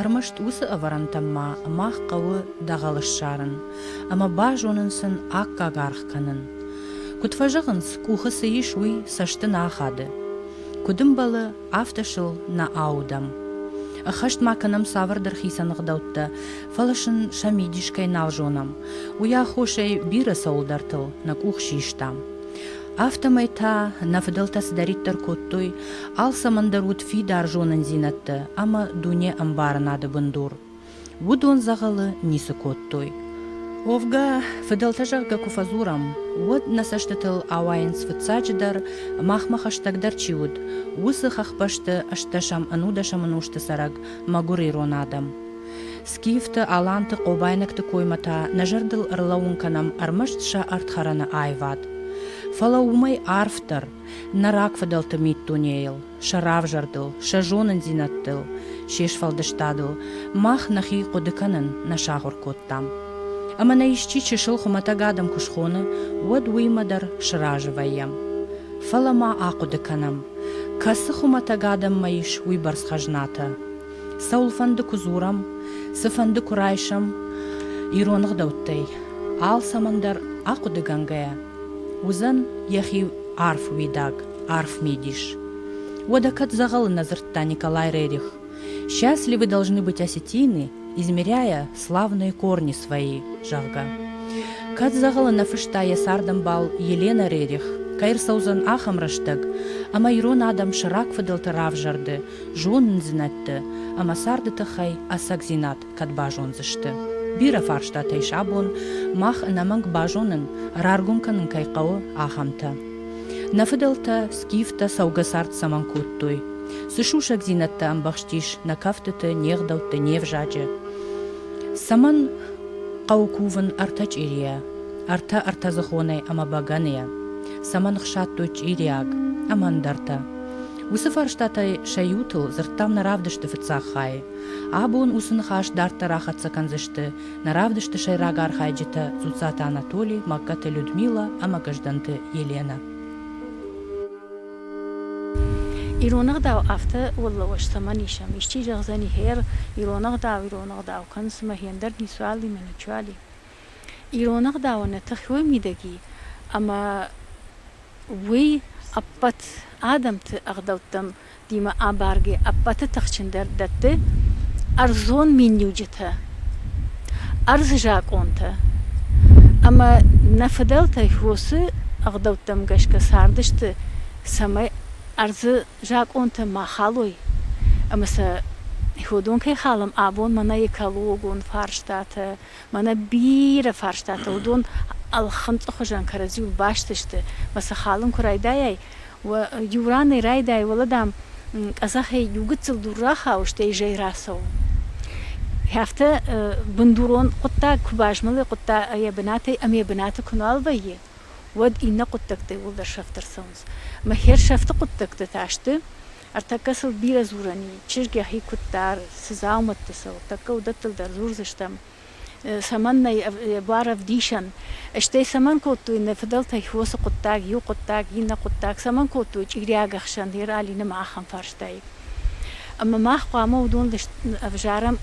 Ӕрмӕст уыцы ӕвӕрӕнтӕм ма мах хъӕуы дӕгъӕл ссарын ӕмӕ базонын сын аккаг аргъ кӕнын. Куыд фӕзӕгъынц, къухы цы ис, уый цӕсты нӕ ахады. Куыд ӕмбӕлы, афтӕ сыл нӕ аудӕм. Ӕххӕст ма кӕнӕм цавӕрдӕр хицӕн ӕгъдӕуттӕ, фӕлӕ сын сӕ мидис кӕй нал зонӕм, уый аххосӕй бирӕ цӕуылдӕртыл нӕ къух систам. Афтӕмӕй та нӕ фыдӕлтӕ цыдӕриддӕр кодтой, алцӕмӕн дӕр уыд фидар зонындзинӕдтӕ ӕмӕ дуне ӕмбарынады бындур. Уыдон дзӕгъӕлы ницы кодтой. Уӕвгӕ, фыдӕлтӕ зӕгъгӕ куы фӕдзурӕм, уӕд нӕ цӕстытыл ауайынц фыццаджыдӕр, махмӕ хӕстӕгдӕр чи уыд, уыцы хӕхбӕсты ӕстдӕсӕм-ӕнудӕсӕм ӕнусты цӕрӕг мӕгуыр ирон адӕм. Скифты, аланты, хъобайнӕгты коймӕ та нӕ зӕрдыл ӕрлӕууын кӕнӕм ӕрмӕст сӕ ӕрдхӕрӕны аивад. Фӕлӕ уымӕй арфдӕр, нӕ рагфыдӕлты миддунейыл, сӕ равзӕрдыл, сӕ зонындзинӕдтыл, се сфӕлдыстадыл мах нӕхи хъуыды кӕнын нӕ сахуыр кодтам. Ӕмӕ нӕ исчи чысыл хуымӕтӕг адӕм куы схоны, уӕд уыимӕ дӕр сразы вӕййӕм. Фӕлӕ ма ахъуыды кӕнӕм, кӕцы хуымӕтӕг адӕммӕ ис уыйбӕрц хӕзнатӕ, Цӕуылфӕнды куы дзурӕм, цыфӕнды куы райсӕм ирон ӕгъдӕуттӕй, алцӕмӕндӕр ахъуыдыгӕнгӕйӕ, уыдзӕн йӕхи арф уидаг, арф мидис. Уӕдӕ кӕд дзӕгъӕлы нӕ дзырдта Николай Рерих, «Счастливы должны быть осетины, измеряя славные корни свои», зӕгъгӕ. Кӕд дзӕгъӕлы нӕ фыста йӕ цардӕмбал Елена Рерих, кӕй ӕрцӕудзӕн ахӕм рӕстӕг, ӕмӕ ирон адӕм сӕ рагфыдӕлты равзӕрды зонындзинӕдты ӕмӕ царды тыххӕй ӕцӕгдзинад кӕд базондзысты. Бирӕ фарстатӕй сӕ бон мах ӕнӕмӕнг базонын, раргом кӕнын кӕй хъӕуы, ахӕмтӕ. Нӕ фыдӕлтӕ скифтӕ цӕугӕ цард цӕмӕн кодтой? Цы сусӕгдзинӕдтӕ ӕмбӕхстис нӕ кӕфтыты, не гъдӕутты, не взаджы? Цӕмӕн хъӕуы кувын ӕртӕ чъирийӕ, ӕртӕ ӕртӕдзыхонӕй ӕмӕ бӕгӕныйӕ? Цӕмӕн хсадтой чъириаг ӕмӕ ӕндӕртӕ? Уыцы фарстатӕй сӕ иутыл дзырдтам нӕ равдысты фыццаг хайы. Абон уыцы ныхас дарддӕр ахӕццӕ кӕндзысты нӕ равдысты сӕйраг архайджытӕ Дзуццаты Анатоли, Магкаты Людмилӕ ӕмӕ Гӕздӕнты Еленӕ. Ирон ӕгъдау афтӕ уӕллӕуӕз цӕмӕн ис ам? Исчи зӕгъдзӕни, гьер, ирон ӕгъдау, ирон ӕгъдау кӕнын цымӕ гендер ницуал и мӕ ничуал и? Ирон ӕгъдауӕн нӕ тыххӕй уый мидӕг и, ӕмӕ уый ӕппӕт адӕмты ӕгъдӕуттӕм димӕ абаргӕ ӕппӕты тыхджындӕр дӕтты ӕрдзон миниуджытӕ, ӕрдзы закъонтӕ. Ӕмӕ нӕ фыдӕлтӕй фосы ӕгъдӕуттӕм гӕсгӕ цардысты, цӕмӕй ӕрдзы закъонтӕ ма халой ӕмӕ сӕ ходон кӕй халӕм абон мӕнӕ экологон фарстатӕ, Мӕнӕ бирӕ фарстатӕ уыдон ӕлхынцъы хуызӕн кӕрӕдзиуыл баст сты, мӕ сӕ халын куы райдайай, иу ранӕй райдайы, уӕлӕ, дам, къӕдзӕхӕй иу гыццыл дур рахауы, стӕй зӕй рацӕуы. Афтӕ бындурон хъуыддаг куы базмӕлы йӕ бынатӕй ӕмӕ йӕ бынаты куы нуал вӕййы, уӕд иннӕ хъуыддӕгтӕ иууылдӕр сӕфт ӕрцӕуынц. Мӕ хӕрсӕфты хъуыддӕгтӕ та сты, Ӕртӕккӕ сыл бирӕ дзурӕн и, чызг йӕхи куыд дары, цы дзаумӕтты сыл, тӕккӕ уыдӕттыл дӕр дзурдзыстӕм. Цӕмӕннӕ йӕ буар ӕвдисӕн? Стӕй цӕмӕн кодтой нӕ фыдӕлтӕй фосы хъуыддаг, иу хъуыддаг, иннӕ хъуыддаг, цӕмӕн кодтой чъириаг ӕхсӕн Ералины ӕмӕ ахӕм фарстайы? Ӕмӕ мах хъуамӕ уыдон ӕвзарӕм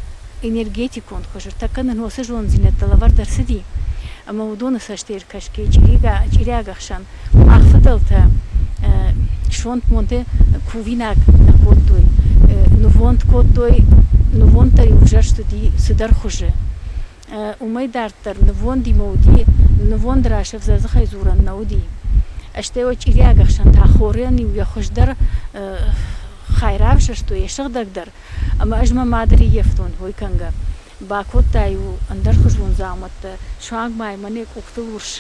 энергетикон хуызыртӕ кӕнын, уыцы зонддзинӕдтӕ лӕвӕрд ӕрцыди ӕмӕ уыдоны цӕсты ӕркӕсгӕ чъириаг ӕхсӕн мах фыдӕлтӕ сонтмонды кувинаг нӕ кодтой, нывонд кодтой, нывонддӕр-иу ӕвзӕрст уыди цыдӕр хуызы. Уымӕй дарддӕр нывондимӕ уыди, нывонд раз ӕвзӕрдзыхӕй дзурӕн нӕ уыди. Стӕй уӕ чъириаг ӕхсӕн та хорӕн-иу йӕ хуыздӕр хай равзӕрстой, йӕ сыгъдӕгдӕр Ӕмӕ ӕз мӕ мады риййӕфтон ой кӕнгӕ. Бакодта-иу ӕндӕрхуызон дзаумӕттӕ, суанг ма мӕ не къухтыл урс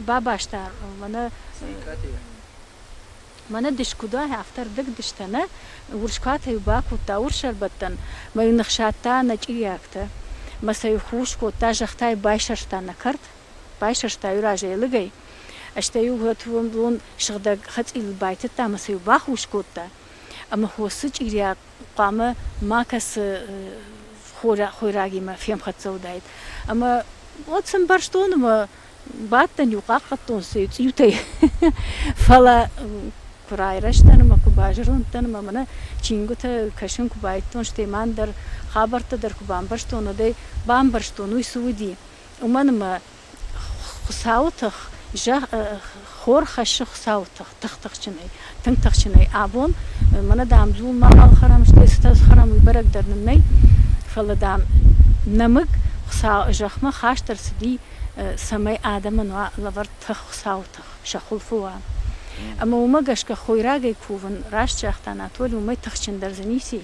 бабаста мӕнӕ мӕнӕ дыс куыд уа, афтӕ рдӕг дыстӕ, нӕ? Урс куатӕ-иу бакодта урс ӕрбӕттӕн, мӕ-иу ныхсадта нӕ чъириӕгтӕ, мӕ сӕ-иу хус кодта, зӕхтӕ-иу байсӕрста нӕ кӕрт, байсӕрста-иу разӕй лыгӕй, Стӕй-иу гъӕдвон бон сыгъдӕг хӕцъилыл байтыдта ӕмӕ сӕ-иу бахус кодта. Ӕмӕ хосы чъирийӕ хъуамӕ макӕцы хойрагимӕ фемхӕццӕ уыдаид. Ӕмӕ уӕд сын бӕрстон ӕмӕ бӕттӕн-иу хъахъхъӕдтон сӕ цъиутӕй. Фӕлӕ куы райрӕзтӕн ӕмӕ куы базӕрондтӕн ӕмӕ мӕнӕ чингуытӕ кӕсын куы байдтон, стӕй ма ӕндӕр хабӕрттӕ дӕр куы бамбӕрстон, уӕдӕй бамбӕрстон, уый цы уыди. Уымӕн ӕмӕ Хуыцауы тых, хор хӕссы Хуыцауы тых тых-тыхджынӕй, тынг тыхджынӕй. Абон мӕнӕ, дам, иу мӕхъӕл хӕрам сты, стӕ хӕрам уый бӕрӕг дӕр нын нӕй, фӕлӕ, дам, нӕмыг Хуыцауы зӕхмӕ хаст ӕрцыди, цӕмӕй адӕмӕн уа лӕвӕрд тых, Хуыцауы тых, сӕ хуылфы уа. Ӕмӕ уымӕ гӕсгӕ хойрагӕй кувын, раст загъта Анатолий, уымӕй тыхджындӕр дзы ницы и.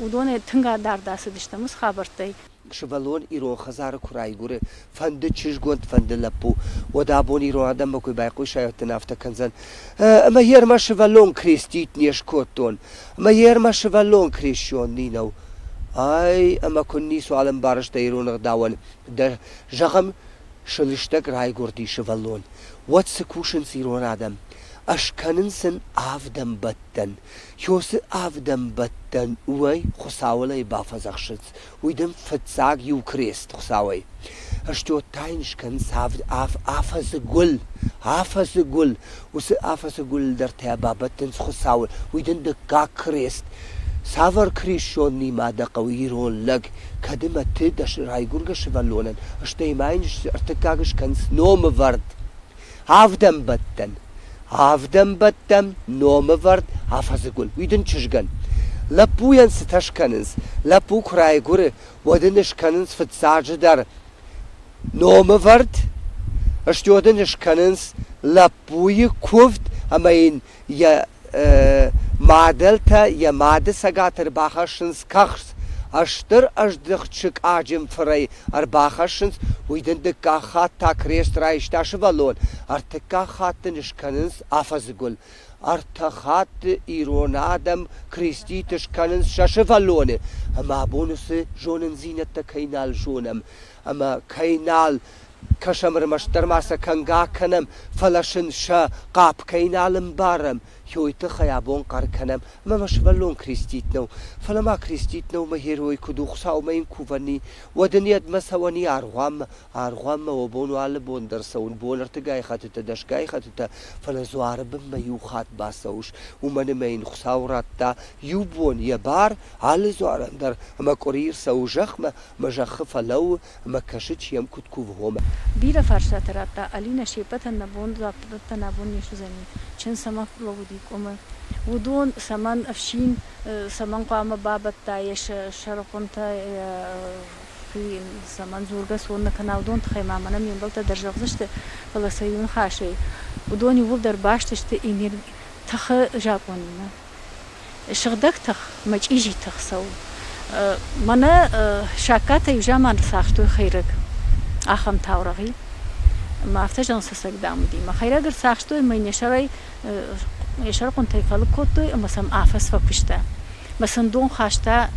уыдонӕй тынг адард ацыдыстӕм уыцы хабӕрттӕй. Сывӕллон ирон хӕдзары куы райгуыры, фӕнды чызгонд, фӕнды лӕппу, уӕд абон ирон адӕммӕ куы байхъусайӕт, дын афтӕ кӕндзӕн, Ӕмӕ йе рмӕ сывӕллон крестить не скодтон, ӕмӕ йе рмӕ сывӕллон крещен ни'нӕу. Ай, ӕмӕ куынн ницуал ӕмбарыс дӕ ирон ӕгъдауӕн, дӕ, зӕгъӕм, сылыстӕг райгуырди сывӕллон, уӕд цы кусынц ирон адӕм? Ӕз кӕнын сын авдӕнбӕттӕн. Ё цы авдӕнбӕттӕн уӕй Хуыцауыл ӕй бафӕдзӕхсынц, уый дын фыццаг иу крест Хуыцауӕй. Стё та йын скӕнынц авд ав афӕдзы гуыл. Афӕдзы гуыл. Уыцы афӕдзы гуылдӕртӕ бабӕттынц Хуыцауы. Уый дын дыккаг крест. Цавӕр крестоннимӕ дӕ хъӕуы, ирон лӕг, кӕд ӕмӕ ты дӕ райгуыргӕ сывӕллонӕн, стӕй ма йын ӕртыккаг скӕнынц номывӕрд. Авдӕнбӕттӕн. Авдӕнбӕттӕн номывӕрд афӕдзыгуыл. Уый дын чызгӕн. Лӕппуйӕн цытӕ скӕнынц? Лӕппу куы райгуыры, уӕд ын скӕнынц фыццаджы дӕр номывӕрд, стӕй дын скӕнынц лӕппуйы куывд ӕмӕ йын йӕ мадӕлтӕ йӕ мады цӕгаты ӕрбахӕссынц кӕхц, ӕстыр ӕздыхт сыкъаджын фырӕй ӕрбахӕссынц, уый дын дыккаг хатт та крест райста сывӕллон, ӕртыккаг хатт дын скӕнынц афӕдзы гуыл. Ӕртӕ хатты ирон адӕм креститы скӕнынц сӕ сывӕллоны, ӕмӕ абон уыцы зонындзинӕдтӕ кӕй нал зонӕм. ӕмӕ кӕй нал кӕсӕм, ӕрмӕстдӕр ма сӕ кӕнгӕ кӕнӕм, фӕлӕ сын сӕ хъӕп кӕй нал ӕмбарӕм, уый тыххӕй абон хъӕр кӕнӕм, ӕмӕ ма сывӕллон крестит нӕу, фӕлӕ ма крестит нӕумӕ герой куыд у, Хуыцаумӕ йын куы вӕййы, уӕд ын йедмӕ цӕуӕни аргъуанмӕ, аргъуанмӕ уӕ бон у алы бон дӕр цӕуын, бон ӕртыгай хӕттытӕ, дӕсгай хӕттытӕ, фӕлӕ дзуары бынмӕ иу хатт бацӕуыс, уымӕн ӕмӕ йын Хуыцау радта иу бон йӕ бар алы дзуарӕн дӕр, ӕмӕ къуыри ӕрцӕуы зӕхмӕ, Мӕ зӕххы фӕлӕуу ӕмӕ кӕсы, чи йӕм куыд кувгъомӕ. Бирӕ фарстатӕ радта Алинӕ, се ппӕтӕн нӕ бон дзуаппдӕттӕн абон не суыдзӕни, чын цӕмӕ фӕлӕууыди къуымы, уыдон, цӕмӕн ӕфсин, цӕмӕн хъуамӕ бабӕтта йӕ сӕрыхъуынтӕ, цӕмӕн дзургӕ цон нӕ кӕна, уыдон тыххӕй ма мӕнӕ ме мбӕлттӕ дӕр зӕгъдзысты, фӕлӕ сӕ иуныхасӕй, уыдон иууылдӕр баст сты тыхы закъонимӕ. Сыгъдӕг тых, мачъизи тых цӕуы. Мӕнӕ саккатӕ иу заман цагътой хӕйрӕг ахӕм таурӕгъи. Мӕ афтӕ зӕгъын сусӕгдам уыди. Мӕ хӕйрӕг ӕрцахстой мӕ йын йӕ сӕрӕй йӕ сӕрыхъуынтӕй фӕлыг кодтой ӕмӕ сӕм афӕдз фӕкуыста. Мӕ сын дон хаста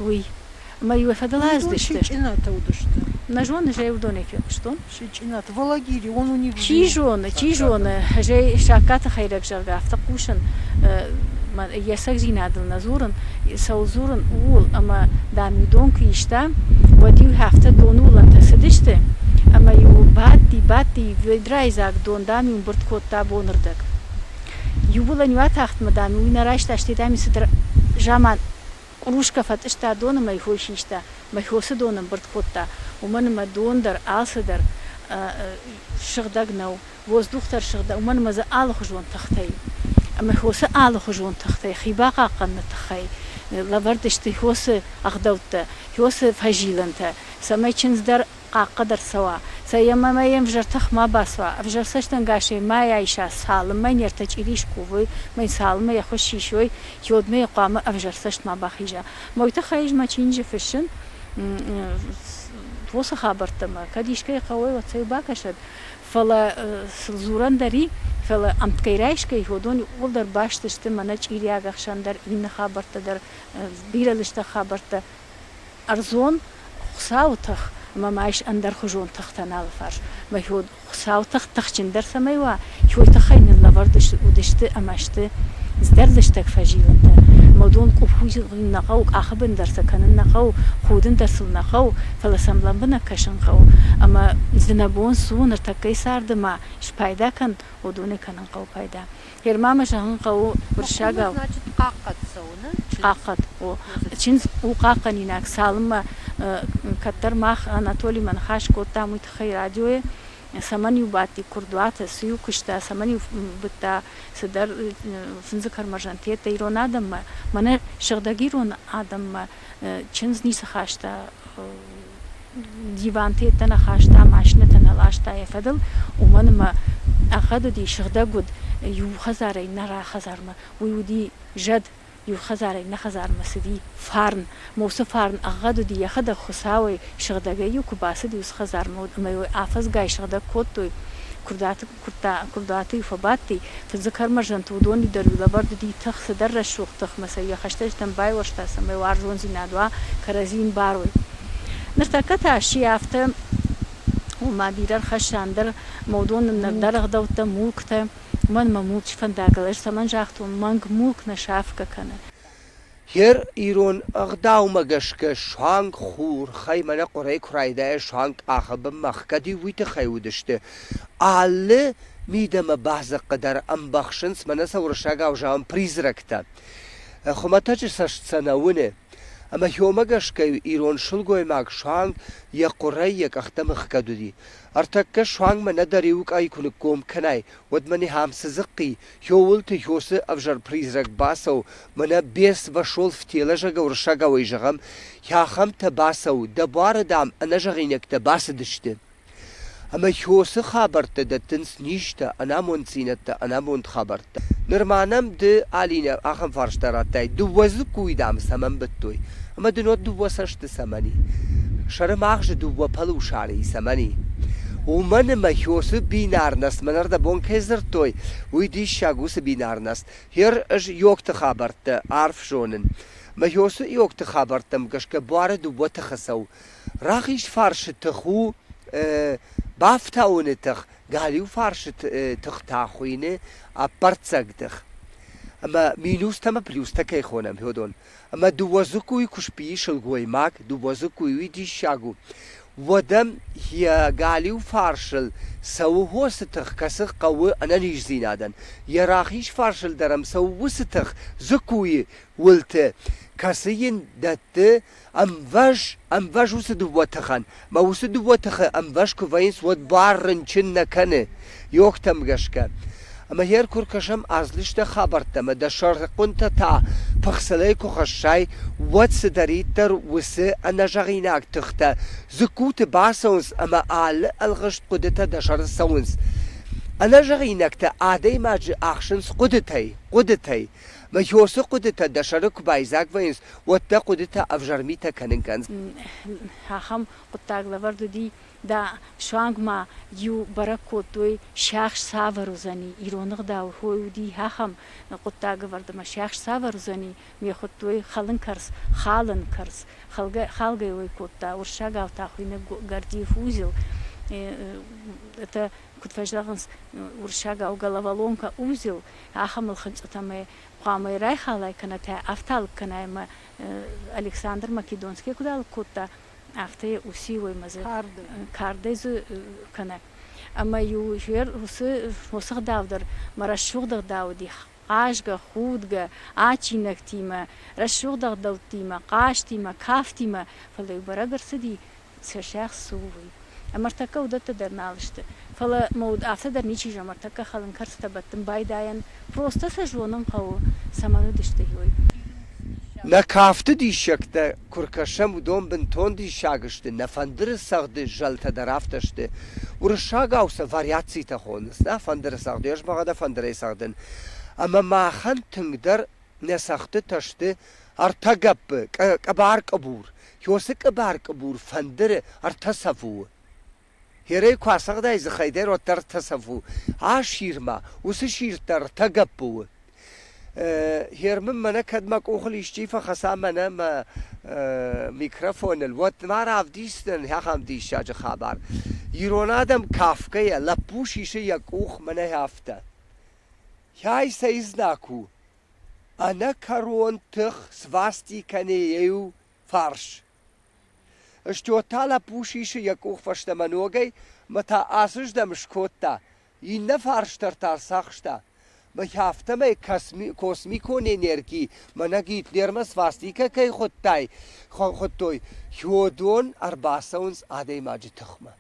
уый. Ӕмӕ иу фӕдыл аздӕхтысты. Нӕ зоны, зӕй уыдонӕй фехъуыстон. Чи зоны, чи зоны, зӕй саккаты хӕйрӕг зӕгъгӕ, афтӕ хъусын, йӕ сӕгдзинадыл нӕ дзурын, цӕуыл дзурын, ууыл. Ӕмӕ, дам-иу дон куы иста, уӕд-иу афтӕ доны уылӕнтӕ цыдысты, ӕмӕ-иу бадти-бадти ведрайдзаг дон, дам-иу мбырд кодта бонырдӕг. Иу уылӕн-иу атахтмӕ, дам-иу уый нӕ райста, стӕй, дам-иу цыдӕр заман Къурускӕ фӕтъыста доны мӕ хой систа, мӕ хо цы дон ӕмбырд кодта, уымӕн ӕмӕ дон дӕр алцыдӕр сыгъдӕг нӕу, воздух дӕр сыгъдӕг, уымӕн ӕмӕ дзы алыхуызон тыхтӕ и. Ӕмӕ хо цы алыхуызон тыхтӕй хи бахъахъхъӕныны тыххӕй лӕвӕрд сты, хо цы ӕгъдӕуттӕ, хо цы фӕзилӕнтӕ, цӕмӕй чындз дӕр хъахъхъӕд ӕрцӕуа, цӕйӕм ӕмӕ йе мвзӕр тых ма бацуа, ӕвзӕр цӕстӕнгасӕй мӕ йӕ иса, цалынмӕ не ртӕ чъири скувой, цалынмӕ йӕ хуыз сисой, йодмӕ йӕ хъуамӕ ӕвзӕр цӕст ма бахиза. Мой тыххӕй ӕз мӕ чиныджы фыссын фосы хабӕрттӕмӕ, кӕд искӕй хъӕуӕй, уӕд сӕ-иу бакӕсӕд, фӕлӕ сыл дзурӕн дӕр и, фӕлӕ ӕмткӕй-райсгӕ йыгъуыдон иууылдӕр баст сты мӕнӕ чъириаг ӕхсӕн дӕр, иннӕ хабӕрттӕ дӕр, бирӕ лыстӕг хабӕрттӕ, Ӕрдзон Хуыцауы тых ӕмӕ ма ис ӕндӕрхуызон тыхтӕн алыфарс. Мӕхи уд Хуыцауы тых тыхджындӕр цӕмӕй уа, хьой тыххӕй нын лӕвӕрд уыдысты ӕмӕ сты здӕр лыстӕг фӕзилӕнтӕ. Ӕмӕ уыдон къуххизын нӕ хъӕуы, къахыбын дӕр сӕ кӕнын нӕ хъӕуы, худын дӕр сыл нӕ хъӕуы, фӕлӕ сӕм лӕмбынӕг кӕсын хъӕуы. Ӕмӕ дзы нӕ бон цы у, ныртӕккӕйы царды ма спайда кӕн, уыдонӕй кӕнын хъӕуы пайда. Хъермамӕ зӕгъын хъӕуы бырсӕгау. Хъахъхъӕд цӕуыны хъахъхъӕд у чындз у хъахъхъӕнинаг, цалынмӕ кӕддӕр мах Анатолимӕ ныхас кодтам, уый тыххӕй радиойы цӕмӕн-иу бадти курдуаты, цы-иу куыста, цӕмӕн-иу быдта цыдӕр фындзы кармазантеттӕ ирон адӕммӕ, мӕнӕ сыгъдӕг ирон адӕммӕ чындз ницы хаста диванты йедтӕ нӕ хаста, машинӕтӕ нӕ ласта йӕ фӕдыл, уымӕн ӕмӕ ӕгъгъӕд уыди, сыгъдӕг уыд иу хӕдзарӕй нӕ хӕдзармӕ. Уый уыди зӕд, иу хӕдзарӕй нӕ хӕдзармӕ цыди фарн. Ма уыцы фарн ӕгъгъӕд уыди, йӕхӕдӕг Хуыцауӕй сыгъдӕгӕй-иу куы бацыди уыцы хӕдзармӕ, ӕмӕ йыл афӕдзгай сыгъдӕг кодтой, куырдаты Куырдаты-иу фӕбадти, фыдзы кӕрмӕзӕнты уыдоны дӕр лӕвӕрд уыди тых, цыдӕр рӕсугъд тыхмӕ сӕ йӕ хӕстӕджытӕн байуӕрста, цӕмӕй уарзондзинад уа, кӕрӕдзи йын барой. Ныртӕккӕ та сси афтӕ, ома бирӕ ӕрхӕсса ӕндӕр модон нӕрдӕр ӕгъдӕуттӕ, мулктӕ. Мӕнмӕ мулчы фӕндагыл, ӕз цӕмӕн загътон, мӕнг мулк нӕ сафгӕ кӕны. Хер ирон ӕгъдаумӕ гӕсгӕ суанг хурхӕймӕ нӕ хъуырӕй куы райдайа суанг къахы бынмӕ ӕхгӕд-иу уый тыххӕй уыдысты. Алы мидӕмӕ бадзыхъхъы дӕр ӕмбӕхсынц мӕнӕ сӕ уырыссагау зӕгъӕм призрактӕ. Хуымӕтӕджы цӕст сӕ нӕ уыны. Ӕмӕ хьомӕ гӕсгӕ-иу ирон сылгоймаг суанг йӕ хъуырӕй йӕ къӕхтӕм ӕхгӕд уыди. Ӕртӕккӕ суангмӕ нӕдӕр иу къӕй куы ныкком кӕнай, уӕд мӕ ныхӕм цы дзыхъхъи, Кёуылты Йосы ӕвзӕр призрак бацӕу, мӕнӕ Берс-Басолф телӕзӕгы уырыссагауӕй зӕгъӕм, Хӕхӕмтӕ бацӕу, дӕ буары, дам, ӕнӕзӕгъинӕгтӕ бацыдысты. Ӕмӕ Йосы хабӕрттӕ дӕттынц низтӕ, ӕнамонддзинӕдтӕ, ӕнамонд хабӕрттӕ. Ныр ма нӕм ды, Алинӕ, ахӕм фарста радтай, дыууӕ дзыккуйы, дам, цӕмӕн быдтой? Ӕмӕ дын уӕд дыууӕ цӕсты цӕмӕн и? Сӕрымагъзы дыууӕ пӕлусӕрыйы цӕмӕн и? Уымӕн ӕмӕ Хёсы бинарнӕст мӕнӕрдӕбон кӕй дзырдтой, уый диссаг уыцы бинарнӕст. Гъер ӕз Иогты хабӕрттӕ арф зонын. Мӕ Хёсы Иогты хабӕрттӕм гӕсгӕ буары дыууӕ тыхы цӕуы. Рахиз фарсы тых у бафтауыны тых, галиу фарсы тых та хуыйны ӕппӕрццӕг тых. Ӕмӕ минустӕ ӕмӕ плюстӕ кӕй хонӕм, Хёдон, ӕма дууӕ дзыккуй куспийи сылгоймаг, дууӕ дзыккуйуи диссаг у, уӕд ӕм йӕ галиу фарсыл цӕуы хосы тых, кӕцы хъӕуы ӕнӕниздзинадӕн, йӕ рахиз фарсыл дӕр ӕм цӕуы уыцы тых, дзыккуйы уылты, кӕцы йын дӕтты ӕмвӕз, ӕмвӕз уыцы дыууӕ тыхӕн Мӕ уыцы дыууӕ тыхы ӕмвӕз куы вӕййынц, уӕд бар рынчын нӕ кӕны, йогтӕм гӕсгӕ. Ӕмӕ гъер куы ркӕсӕм азлыстӕг хабӕрттӕ ӕмӕ дӕ сӕргъыхъуынтӕ та пыхцылӕй куы хӕссай, уӕд цыдӕриддӕр уыцы ӕнӕзӕгъинаг тыхтӕ дзыккуты бацӕуынц ӕмӕ алы ӕлгъыст хъуыдытӕ дӕ сӕрыл цӕуынц. Ӕнӕзӕгъинӕгтӕ адӕймаджы ахсынц хъуыдытӕй, хъуыдытӕй. Мхёсы хъуыдытӕ дӕ сӕры куы байдзаг вӕййынц, уӕд дӕ хъуыдытӕ ӕвзӕр митӕ кӕнын кӕндз. Ахӕм хъуыддаг лӕвӕрд уыди, дӕ суангмӕ иу бӕрӕг кодтой, сиахс цавӕр уыдзӕни, ироны гъдау хой уыди, ахӕм хъуыддаг ӕвӕрд ӕмӕ сиахс цавӕр уыдзӕни, ме хуыдтой хӕлын кӕрц, халын кӕрц, халгӕ-халгӕ уой кодта, уырыссагау та хуыйнӕг гордиев узел. Это Куыд фӕзӕгъынц, уырыссагау головоломка узел, ахӕмыл хынцъытӕ ӕмӕ хъуамӕ райхалай кӕнӕ та афталыг кӕнай ӕмӕ Александр Македонский куыд алыг кодта, афтӕ йӕ уыси уоймӕ дзы кардӕй дзы кӕнӕ. Ӕмӕ-иу жер уыцы фосыгъдау дӕр мӕ рӕсугъд ӕгъдау уыди хъазгӕ, худгӕ адджинӕгтимӕ, рӕсугъд ӕгъдӕуттимӕ, хъазтимӕ, кафтимӕ, фӕлӕ иу бӕрӕг ӕрцыди, сӕ сӕгъ цы у, уый. Ӕмӕ ӕртӕккӕ уыдӕттӕ дӕр нал сты. Фӕлӕ мӕ уд афтӕ дӕр ничи зӕгъы, ӕртӕккӕ хӕлын кӕрцытӕ бӕттын байдайӕн, просто сӕ зонын хъӕуы, цӕмӕн уыдысты, уый. Нӕ кафты диссӕгтӕ Куы ркӕсӕм, уыдон бынтон диссаг сты, нӕ фӕндыры цагъды зӕлтӕ дӕр афтӕ сты. Уырыссагау сӕ вариацитӕ хонынц, нӕ фӕндыры цагъды, ӕз мӕгъӕ дӕ фӕндырӕй цӕгъдын. Ӕмӕ махӕн тынгдӕр нӕ цӕгъдтытӕ сты ӕртӕ гӕппы, къӕбӕр-къӕбур. Иосы къӕбӕр-къӕбур фӕндыры ӕртӕ цӕф у. Херӕй куы ацӕгъдай, дзыхӕй дӕр уӕддӕр тӕсӕв у. Асирмӕ, уыцы сирд дӕр тӕ гӕппы у. Хер мын мӕнӕ кӕд мӕ къухыл исчи фӕхӕца мӕнӕ мӕ микрофоныл, уӕд ма равдисдзынӕн ахӕм диссаджы хабар. Ирон адӕм кафгӕйӕ, лӕппу сисы йӕ къух, мӕнӕ афтӕ. Хай цӕй знаг у? Ӕнӕкӕрон тых свасти кӕны иу фарс. Стьо та лӕппу сисы йӕ къух фӕстӕмӕ ногӕй мӕ та ацыздӕм скодта, иннӕ фарсдӕр та рцахста. Мӕхи афтӕмӕй косми космикон энерги мӕнӕ Гитлермӕ свастикӕ кӕй хуыдтай, хуыдтой, Хёдон ӕрбацӕуынц адӕймаджы тыхмӕ.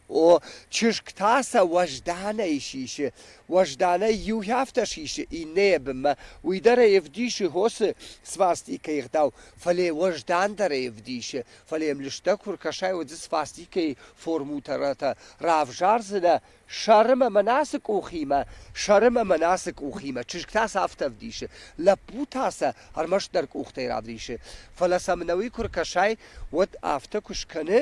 О, чызг та сӕ уӕзданӕй сисы. Уӕзданӕй иу хӕфтӕ сисы, иннӕйӕ бынмӕ. Уый дӕр ӕй ӕвдисы хосы свастикӕйы гъдау, фӕлӕ йӕ уӕздан дӕр ӕй ӕвдисы. Фӕлӕ йӕм лыстӕг куы ркӕсай, уӕд дзы свастикӕйы формутӕрӕтӕ равзардзынӕ сӕрым ӕмӕ носы къухимӕ, сӕрым ӕмӕ носы къухимӕ. Чызг та сӕ афтӕ ӕвдисы. Лӕппу та сӕ ӕрмӕстдӕр къухтӕй равдисы. Фӕлӕ сӕм ӕнӕуи куы ркӕсай, уӕд афтӕ куы скӕны,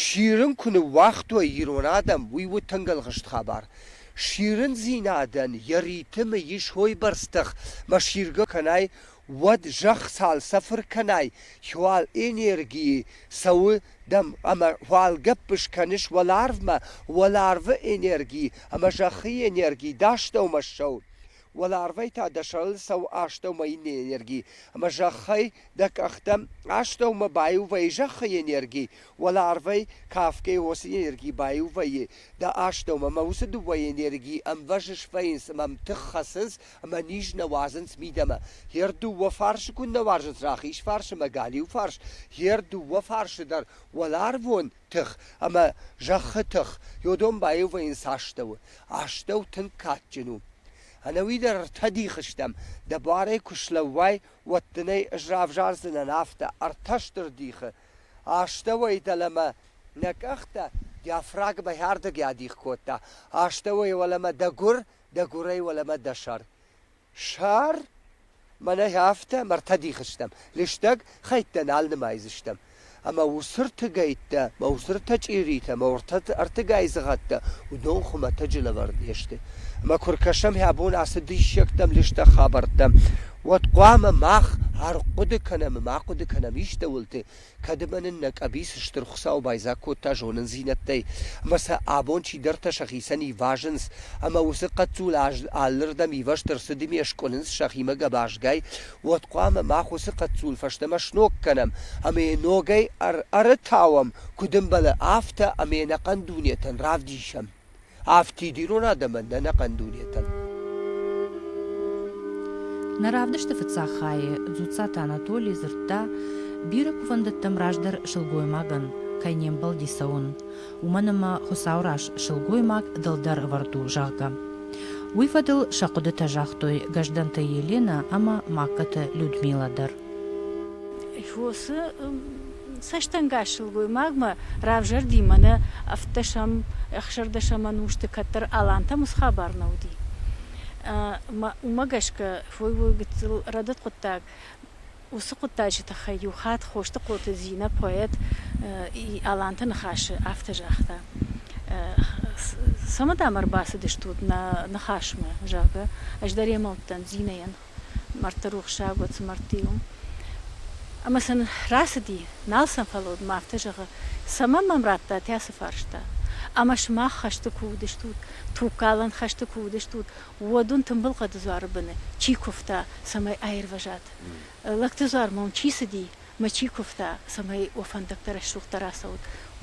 Сирын куы ныууагътой ирон адӕм, уый у тынг ӕлгъыст хабар. Сирындзинадӕн йӕ ритмы ис уойбӕрц тых, ма сиргӕ кӕнай, уӕд зӕхх цалцӕфыр кӕнай, уал энергийы цӕуы дӕм ӕмӕ уал гӕппыс кӕныс уӕларвмӕ, уӕларвы энерги ӕмӕ зӕххы энерги, дастӕумӕ ссӕуы. Уӕларвӕй та дӕ сӕрыл цӕуы астӕумӕйы энерги, ӕмӕ зӕххӕй дӕ къӕхтӕм астӕумӕ баиу вӕййы зӕххы энерги, уӕларвӕй кафгӕйӕ уыцы энерги баиу вӕййы дӕ астӕумӕ, ӕмӕ уыцы дыууӕ энергийы ӕмвӕзыс вӕййынц ӕмӕ тых хӕцынц ӕмӕ низ нӕ уадзынц мидӕмӕ. Гъе рдыууӕ фарсы куыннӕ уарзынц рахиз фарс ӕмӕ галиу фарс, гъе рдыууӕ фарсы дӕр уӕларвон тых ӕмӕ зӕххы тых йодон баиувӕййын цы астӕу. Астӕу тынг кадджын у. Ӕнӕуи дӕр ӕртӕ дихы стӕм, дӕ буарӕй куы слӕууай, уӕд дын ӕй ӕз равзардзынӕн афтӕ, ӕртӕ стыр дихы. Астӕуӕй дӕлӕмӕ нӕ къӕхтӕ диафрагмӕ хӕрдӕг адих кодта, астӕуӕй уӕлӕмӕ дӕ гуыр, дӕ гуырӕй уӕлӕмӕ дӕ сӕр. Сӕр? Мӕнӕй афтӕ ӕмӕ ӕртӕ дихы стӕм, лыстӕг хӕйттӕ нал нымайдзыстӕм. Ӕмӕ уыцы ртыгӕйттӕ, мӕ уыцы ртӕ чъиритӕ, мӕ ӕртыгай дзыгъӕттӕ уыдон хуымӕтӕджы лӕвӕрд не сты. Ӕмӕ куы ркӕсӕм йӕ бон ацы диссӕгтӕм, лыстӕг хабӕрттӕм, уӕд хъуамӕ мах ӕрхъуыды кӕнӕм ӕмӕ ма хъуыды кӕнӕм истӕуылты, Кӕд ӕмӕ нын нӕ къӕбиц Стыр Хуыцау байдзаг кодта зонындзинӕдтӕй ӕмӕ сӕ абон чидӕртӕ сӕхицӕн ивазынц ӕмӕ уыцы хъӕццул алырдӕм ивӕзт ӕрцыд ӕмӕ скъуынынц сӕхимӕ гӕбазгай, уӕд хъуамӕ мах уыцы хъӕццул фӕстӕмӕ сног кӕнӕм ӕмӕ йӕ ногӕй ӕрытауӕм, куыд ӕмбӕлы, афтӕ ӕмӕ ӕнӕхъӕн дунетӕн равдисӕм. афтид ирон адӕмӕн ӕнӕхъӕн дунетӕн. Нӕ равдысты фыццаг хайы Дзуццаты Анатоли дзырдта, бирӕ кувӕндӕттӕм раздӕр сылгоймагӕн кӕй не мбӕлди цӕуын, уымӕн ӕмӕ Хуыцауы раз сылгоймаг дӕлдӕр ӕвӕрд у, зӕгъгӕ. Уый фӕдыл сӕ хъуыдытӕ загътой Гӕздӕнты Еленӕ ӕмӕ Магкаты Людмилӕ дӕр. Фосы цӕстӕнгас сылгоймагмӕ равзӕрди мӕнӕ ӕвддӕсӕм, ӕхсӕрдӕсӕм ӕнусты кӕддӕр Алантӕм ус хабар нӕ уыди. Уымӕ гӕсгӕ фой уой гыццыл рӕдыд хъуыддаг уыцы хъуыддаджы тыххӕй иу хатт Хосты хъоты Зинӕ поэт Аланты ныхасы афтӕ загъта. Цӕмӕ дӕм ӕрбацыдыстут нӕ ныхасмӕ, зӕгъгӕ, ӕз дӕр емӕ уыдтӕн Зинӕйӕн. мӕрдты рухсаг уыд, цы мӕрдты у. Ӕмӕ сын рацыди, нал сӕм фӕлӕуд мӕ афтӕ зӕгъы, цӕмӕн мӕм радтат ацы фарста? Ӕмӕ сымах хӕсты куы уыдыстут, тугкалӕн хӕсты куы уыдыстут, уӕд уын тымбыл хъӕды дзуары быны чи куывта, цӕмӕй аирвӕзат? Лӕгты дзуармӕ уын чи цыди, Ма чи куывта, цӕмӕй уӕ фӕндӕгтӕ рӕсугъддӕр ацӕут,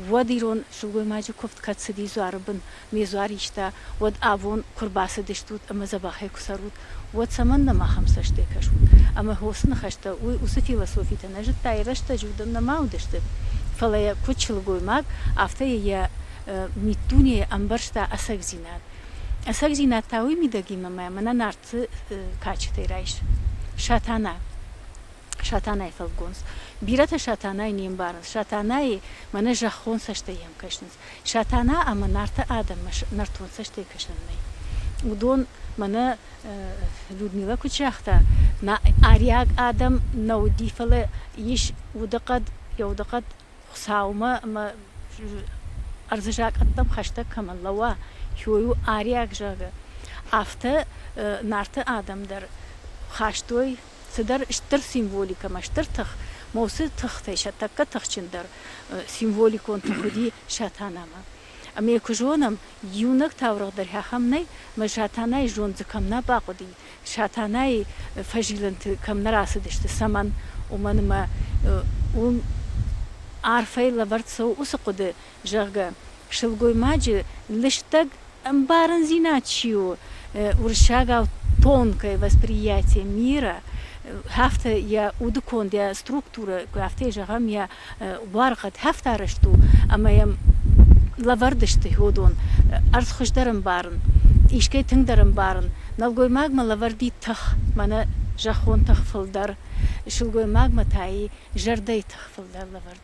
уӕд ирон сылгоймаджы куывд кӕд цыди дзуары бын, ме дзуар иста, уӕд абон куы рбацыдыстут ӕмӕ дзӕбӕхӕй куы цӕрут, уӕд цӕмӕннӕ махӕм цӕстӕй кӕсут? Ӕмӕ уыцы ныхӕстӕ уый уыцы философитӕ нӕ зыдта, рӕстӕджы уыдон нӕма уыдысты, фӕлӕ йӕ куыд сылгоймаг, афтӕ йӕ миддунейӕ ӕмбӕрста ӕцӕгдзинад. Ӕцӕгдзинад та уый мидӕгимӕ мӕ мӕнӕ Нарты кадджытӕй райс. Сатана. Сатанайы фӕлгонц. Бирӕтӕ Сатанайы не мбарынц. Сатанайы мӕнӕ зӕххон цӕстӕй йӕм кӕсынц. Сатана ӕмӕ Нарты адӕммӕ нӕртон цӕстӕй кӕсӕн нӕй. Уыдон мӕнӕ Людмилӕ куыд загъта, ариаг адӕм нӕ уыди, фӕлӕ ис удыхъӕд, йӕ удыхъӕд Хуыцаумӕ ӕмӕ ӕрдзы закъӕттӕм хӕстӕг кӕмӕн лӕууа, хиуый у ариаг, зӕгъы. Афтӕ Нарты адӕм дӕр хастой цыдӕр стыр символикӕмӕ стыр тых, мӕ уыцы тыхтӕй сӕ тӕккӕ тыхджындӕр символикон тых уыди Сатанамӕ. Ӕмӕ йӕ куы зонӕм, иунӕг таурӕгъ дӕр ахӕм нӕй, мӕ Сатанайы зонд дзы кӕм нӕ бахъуыди, Сатанайы фӕзилӕнты кӕм нӕ рацыдысты, цӕмӕн, уымӕн ӕмӕ уым арфӕй лӕвӕрд цӕуы уыцы хъуыды, зӕгъгӕ, сылгоймаджы лыстӕг ӕмбарындзинад чи у, уырыссагау тонкое восприятие мира, афтӕ йӕ удыконд, йӕ структурӕ, афтӕ зӕгъӕм, йӕ уаргъӕд хӕфтарӕзт у ӕмӕ йӕм лӕвӕрд сты хьодон ӕрдз хуыздӕр ӕмбарын, искӕй тынгдӕр ӕмбарын. Нӕлгоймагмӕ лӕвӕрд и тых, мӕнӕ зӕххон тых фылдӕр, сылгоймагмӕ та и зӕрдӕйы тых фылдӕр лӕвӕрд.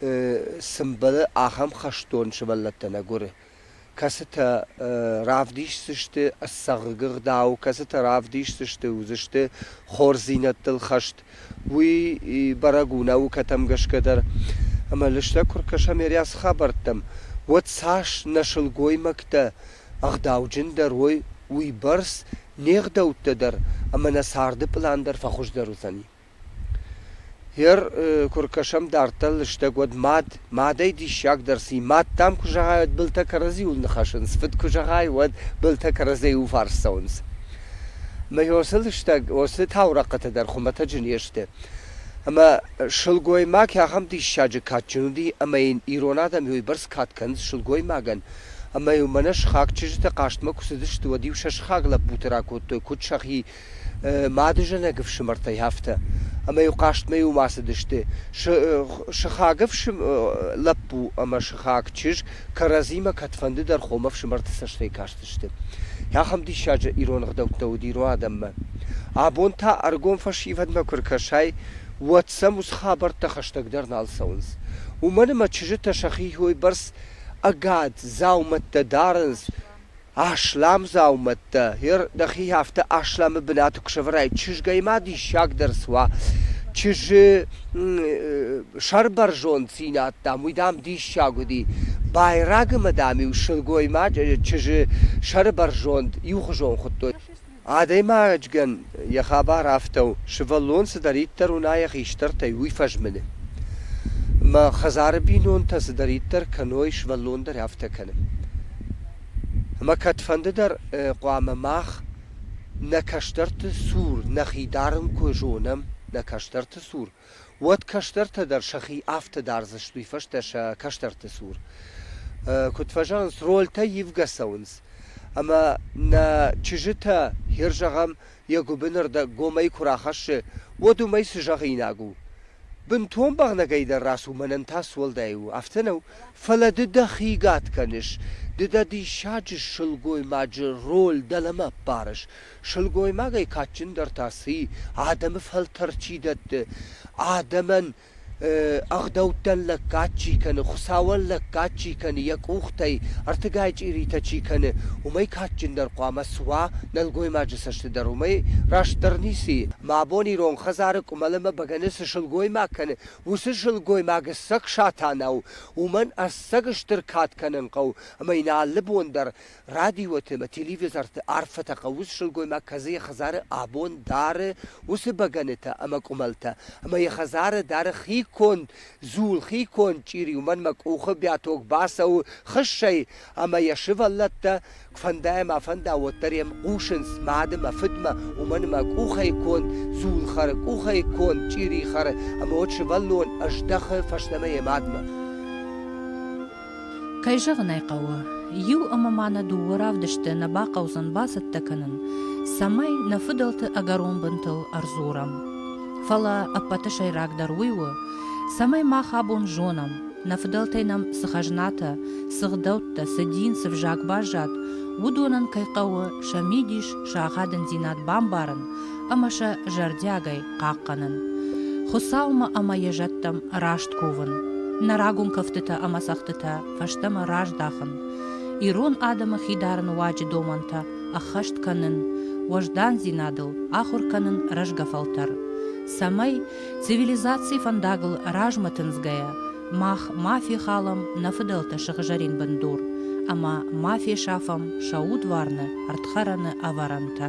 цы мбӕлы ахӕм хӕстон сывӕллӕттӕ нӕ гуыры, кӕцытӕ равдисдзысты ӕцӕг ӕгъдау, кӕцытӕ равдисдзысты, уыдзысты хорздзинӕдтыл хӕст. Уый бӕрӕг у наукӕтӕм гӕсгӕ дӕр. Ӕмӕ лыстӕг куы ркӕсӕм Ериасы хабӕрттӕм, уӕд цас нӕ сылгоймӕгтӕ ӕгъдауджындӕр уой, уыйбӕрц не гъдӕуттӕ дӕр ӕмӕ нӕ царды пълан дӕр фӕхуыздӕр уыдзӕни. Гъер куы ркӕсӕм дарддӕр лыстӕг, уӕд мад, мадӕй диссагдӕр ци, мад, дам, куы зӕгъай, уӕд былтӕ кӕрӕдзиуыл ныхӕсынц, фыд куы зӕгъай, уӕд былтӕ кӕрӕдзейы уфарс цӕуынц. Мӕ ё цы лыстӕг, о цы таурӕхъхъытӕ дӕр хуымӕтӕджы не сты. Ӕмӕ сылгоймаг ахӕм диссаджы кадджын уыди, ӕмӕ йын ирон адӕм йойбӕрц кад кӕнынц сылгоймагӕн. Ӕмӕ-иу мӕнӕ сыхаг чызджытӕ хъазтмӕ куы цыдысты, уӕд-иу сӕ сыхаг лӕппуты ракодтой куыд сӕхи мадызӕнӕг ӕфсымӕртӕй афтӕ, ӕмӕ-иу хъазтмӕ-иу ма цыдысты, сыхаг лӕппу ӕмӕ сыхаг чызг кӕрӕдзимӕ кӕдфӕндыдӕр хомӕфсымӕрты цӕстӕй кастысты. Ахӕм диссаджы ирон ӕгъдӕуттӕ уыд ирон адӕммӕ. Абон та ӕргом фӕсивӕдмӕ куы ркӕсай, уӕд сӕм уыцы хабӕрттӕ хӕстӕгдӕр нал цӕуынц. Уымӕн ӕмӕ чызджытӕ сӕхи бӕрц ӕгад, дзаумӕттӕ дарынц, Асламдзаумӕттӕ, гъер дӕхи афтӕ асламы бынаты куы сӕвӕрай, чызгӕй ма диссагдӕр суа. чызджы сӕрбӕрзонддзинад, дам, уый, дам, диссаг уыди. Байрагы ма, дам-иу сылгоймаджы чызджы сӕрбӕрзонд иухуызон хуыдтой. Адӕймаджыгӕн йӕ хабар афтӕ у, сывӕллон цыдӕриддӕр уына йӕ хистӕртӕй, уый фӕзмыны. Мӕ хӕдзары бинонтӕ цыдӕриддӕр кӕной, сывӕллон дӕр афтӕ кӕны. Ӕмӕ кӕдфӕнды дӕр хъуамӕ мах нӕ кӕстӕрты цур нӕхи дарын куы зонӕм, нӕ кӕстӕрты цур, уӕд кӕстӕртӕ дӕр сӕхи афтӕ дардзысты, уый фӕстӕ сӕ кӕстӕрты цур куыд фӕзӕгъынц, рольтӕ ивгӕ цӕуынц. Ӕмӕ нӕ чызджытӕ, хир зӕгъӕм, йӕ гуыбыны рдӕг гомӕй куы рахӕссы, уӕд уымӕй цы зӕгъинаг у? Бынтон бӕгънӕгӕй дӕр рацу, мӕнӕн та суӕлдай у, афтӕ нӕу? Фӕлӕ ды дӕхи гад кӕныс, ды дӕ диссаджы сылгоймаджы роль дӕлӕмӕ ӕппарыс, Сылгоймагӕй кадджындӕр та цы и, адӕмы фӕлтӕр чи дӕтты, адӕмӕн ӕгъдӕуттӕн лӕггад чи кӕны, Хуыцауӕн лӕггад чи кӕны, йӕ къухтӕй ӕртыгай чъиритӕ чи кӕны, уымӕй кадджындӕр хъуамӕ суа нӕлгоймаджы цӕсты дӕр. Уымӕй растдӕр ницы и, мӕ абон ирон хӕдзары къуымӕл ӕмӕ бӕгӕны цы сылгоймаг кӕны, уыцы сылгоймаг ӕцӕг Сатанӕ у, уымӕн ӕцӕг стыр кад кӕнын хъӕуы ӕмӕ йын алы бон дӕр Радиоты ӕмӕ телевизорты арфӕтӕ хъӕуы сылгоймаг кӕдзы йӕ хӕдзары абон дары уыцы бӕгӕнытӕ ӕмӕ къуымӕлтӕ, ӕмӕ йӕ хӕдзары дары хи конд дзул, хи конд чъири, уымӕн мӕ къухы бӕток бацӕуы хыссӕй, ӕмӕ йӕ сывӕллӕттӕ фӕндӕй ӕмӕ фӕнда уӕддӕр йӕм хъусынц мады мӕ фыдмӕ, уымӕн ӕмӕ къухӕй конд дзул хӕры, къухӕй конд чъири хӕры, ӕмӕ уӕд сывӕллон ӕздӕхы фӕстӕмӕ йӕ мадмӕ. Кӕй зӕгъын ӕй хъӕуы, иу ӕмӕ ма нӕ дыууӕ равдысты нӕ бахъӕудзӕн бацӕттӕ кӕнын, цӕмӕй нӕ фыдӕлты ӕгӕрон бынтыл ӕрдзурӕм. Фӕлӕ ӕппӕты сӕйрагдӕр уый у, цӕмӕй мах абон зонӕм, нӕ фыдӕлтӕй нӕм цы хӕзнатӕ, цы гъдӕуттӕ, цы дин, цы взаг баззад, уыдонӕн кӕй хъӕуы сӕ мидис, сӕ ахадындзинад бамбарын ӕмӕ сӕ зӕрдиагӕй хъахъхъӕнын, Хуыцаумӕ ӕмӕ йӕ зӕдтӕм раст кувын, нӕ рагон кӕфтытӕ ӕмӕ цӕгъдтытӕ фӕстӕмӕ раздахын, ирон адӕмы хидар нуаджы домӕнтӕ ӕххӕст кӕнын, уӕздандзинадыл ахуыр кӕнын рӕзгӕ фӕлтӕр, цӕмӕй, цивилизацийы фӕндагыл размӕ тындзгӕйӕ, мах ма фехалӕм нӕ фыдӕлтӕ сыгъзӕрин бындур ӕмӕ ма фесафӕм сӕ удварны ӕрдхӕрӕны ӕвӕрӕнтӕ.